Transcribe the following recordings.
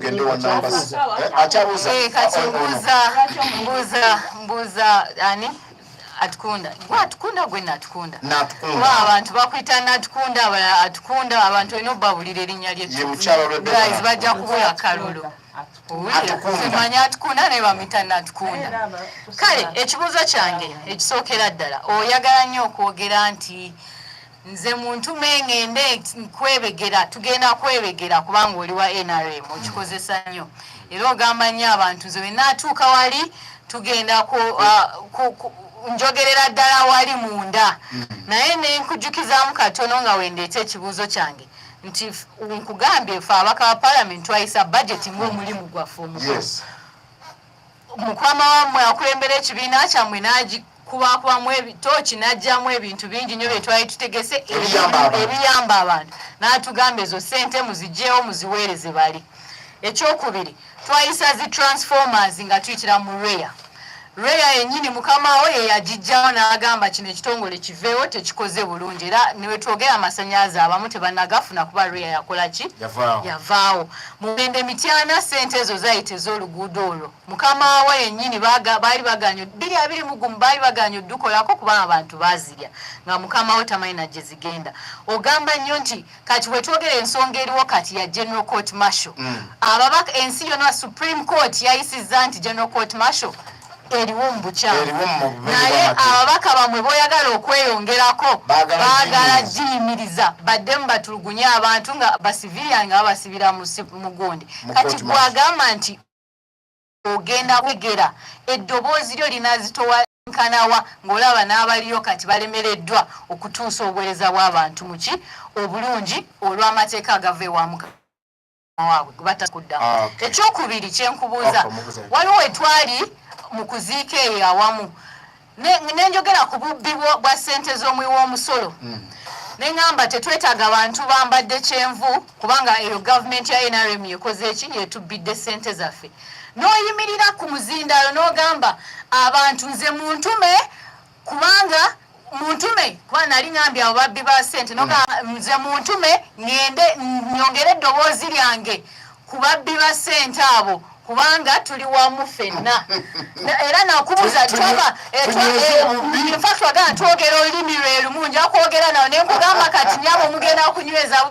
tugende wa numbers eh, akyabuza eh, kati oh, oh, oh. mbuza mbuza mbuza ani atukunda gwe atukunda gwe natukunda natukunda abantu bakwita natukunda atukunda abantu olina obabulira erinnya lye guys bajja kubula kalulu simanya atukunda naye bamwita natukunda kale ekibuuzo kyange ekisookera ddala oyagala nnyo okwogera nti nze muntu mengende nkwebegera tugenda kwebegera kubanga oli wa nrm okikozesa nnyo era ogamba nnyo abantu nze wenatuuka wali tugenda uh, njogerera ddala wali munda mm. naye nenkujjukizamu katono nga wendeeta ekibuuzo kyange nti nkugambye fe abaka ba palamenti twayisa bajeti ngaomulimu gwaffe omukulu mukama wammwe akulembera ekibiina kyammwe n'agikubakubamu ebitooki n'aggyamu ebintu bingi nnyo bye twali tutegese ebiyamba abantu n'atugamba ezo ssente muzigyewo muziweereze bali ekyokubiri twayisa zi transformers nga tuyitira mu reya reya yennyini mukama wo ye yagiggyawo n'agamba kino ekitongole kiveewo tekikoze bulungi era newetwogera amasanyalaze abamu tebanagafuna kuba reya yakola ki yavaawo mugende mityana sente ezo zayita ez'oluguudo olwo mukama wa yennyini baali baganya bbiri abiri mugumu baali baganya oddukolako kuba abantu bazirya nga mukama wo tamanyi na gye zigenda ogamba nnyo nti kati wetwogera ensonga eriwo kati ya general court marshal mm. ababaka ensi yona supreme court yayisizza nti general court marshal eriwo mu bukyamu naye ababaka bamwe boyagala okweyongerako baagala giyimiriza baddemu batulugunye abantu nga basivilian nga babasibira mugundi kati gwagamba nti ogenda kwegera eddoboozi lyo linazitowa nkanawa ng'olaba n'abaliyo kati balemereddwa okutuusa obuweereza bw'abantu muki obulungi olw'amateeka agava ewamuka waabwe gwe batakuddamu ah, ekyokubiri kyenkubuuza waliwo wetwali mu kuziika eyo awamu nenjogera ku bubbi bwa ssente z'omuwi w'omusolo hmm. neŋamba tetwetaaga bantu bambadde kyenvu kubanga eyo gavumenti ya nrm yekoze eki yetubbidde ssente zaffe n'oyimirira ku muzindaalo n'ogamba abantu nze muntume kubanga muntume kuba nali ngambye abo babbi ba sente noga mm. nze muntume ngende nyongere eddoboozi lyange ku babbi ba sente abo kubanga tuli wamu fenna era nakubuza twaba twagala twogera olulimi lwerumu nja kwogera nawo nenkugamba kati nyabo mugenda kunyweza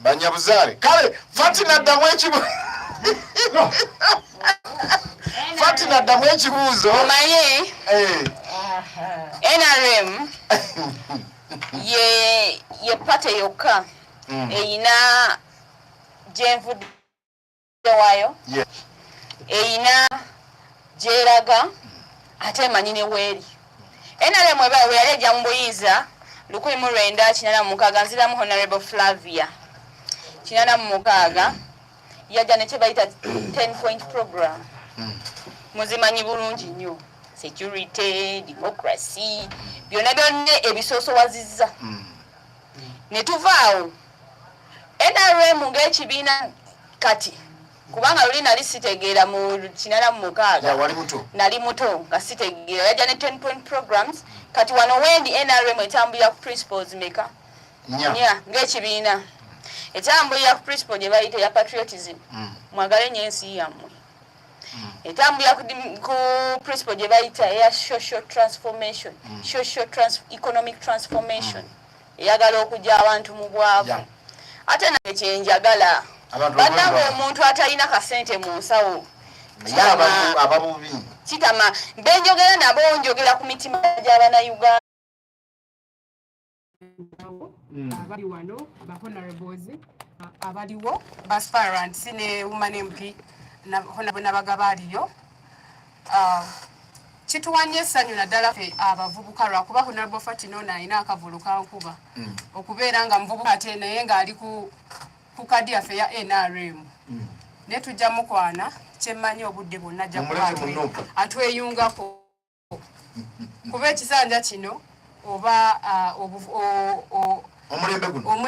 banyabuzaale kale fatina ddamu ekibu fatina ddamu ekibuuzo omanyi eh. nrm ye ye pate yokka mm. eyina gyenvudde waayo eyina gyeraga ate emanyi ne weeri nrm eba weyali ejja mu buyinza lukumi mu lwenda kinana mu mukaaga nziramu honorable flavia kinana mu mukaaga yajja ne kyebayita ten point program hmm. muzimanyi bulungi nnyo security democracy byonna byonna ebisoosowaziza mm. ne tuvaawo nrm ng'ekibiina kati kubanga luli nali sitegeera mu kinala mu mukaaga nali muto nga sitegeera yajja ne ten point programs kati wano wendi nrm etambulira ku principles meka nya ng'ekibiina etambulira ku principle gye bayita ya patriotism mm. mwagale nyo ensi yammwe mm. etambulira ku principle gye bayita eya social transformation mm. social trans economic transformation mm. eyagala okugya abantu mu bwavu ate naye kyenjagala banange omuntu atalina kasente mu nsawo kitama benjogera nabo njogera ku mitima gy'abanauganda awo hmm. abali wano ba honorables abaliwo ba sparant ne woman mp nabagaba aliyo ah, kituwanye essanyu naddala fe abavubuka lwakuba honorable fatino ono alina akavulu kankuba hmm. okubeera nga muvubuka ate naye ng'ali ku kadi yaffe ya nrm hmm. naye tujja mukwana kyemmanyi obudde bwonna ajja atweyungako kuba ekisanja kino oba uh, omulembe guno